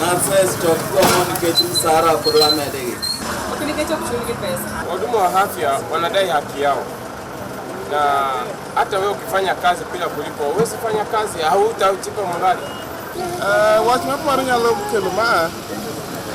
Not first of common nikech msara kod wamedegi. Okay, nikech ok chulgi pesa. Wahudumu wa afya wanadai haki yao, na hata wewe ukifanya kazi bila kulipwa, huwezi fanya kazi, hautajipa morali. Uh, wach ma paro nyalo kelo ma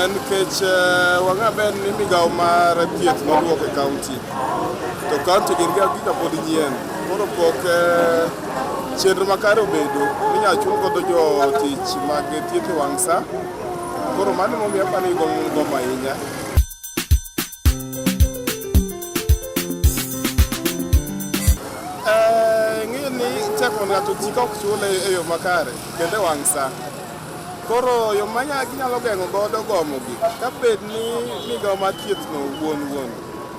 en nikech uh, wang'a ber ni migawo mar thieth nodwoko e kaunti to kaunti gin ga gika pod nyien koro pok uh, Chenro makare obedo minyalo chul godo jotich mag thieth e wang' sa. Koro mano momiyo aparo ni gombo gombo ahinya. Eh, Ng'eyo ni chak mondo ng'ato ti ka ok chule e yo makare kendo e wang' sa. Koro yo ma nya- ginyalo geng'o godo gomogi ka bed ni migawo mar thiethno wuon wuon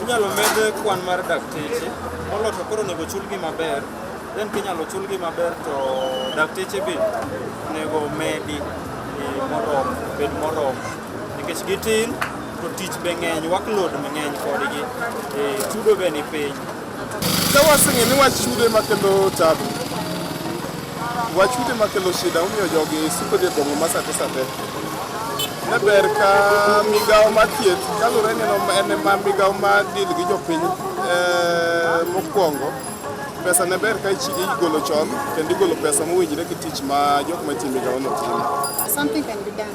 Inyalo med kwan mar dakteche, molo to koro onego chulgi maber, then kinyalo chulgi maber to dakteche be onego medi e, moromo, bed moromo. Nikech gitin to tich be ng'eny, workload be ng'eny kodgi, e, chudo be ni piny. Ka waseng'e ni wach chudo ema kelo tabu, wach chudo ema kelo shida, omiyo jogi suko dhi e boma ma sate sate. Ne ber ka migawo ma thieth, kaluwore ni en ema migawo ma deal gi jopiny eh, mokwongo, pesa ne ber ka ichi- igolo chon kendo igolo pesa mowinjore gi tich ma jok matiyo e migawono timo. Something can be done.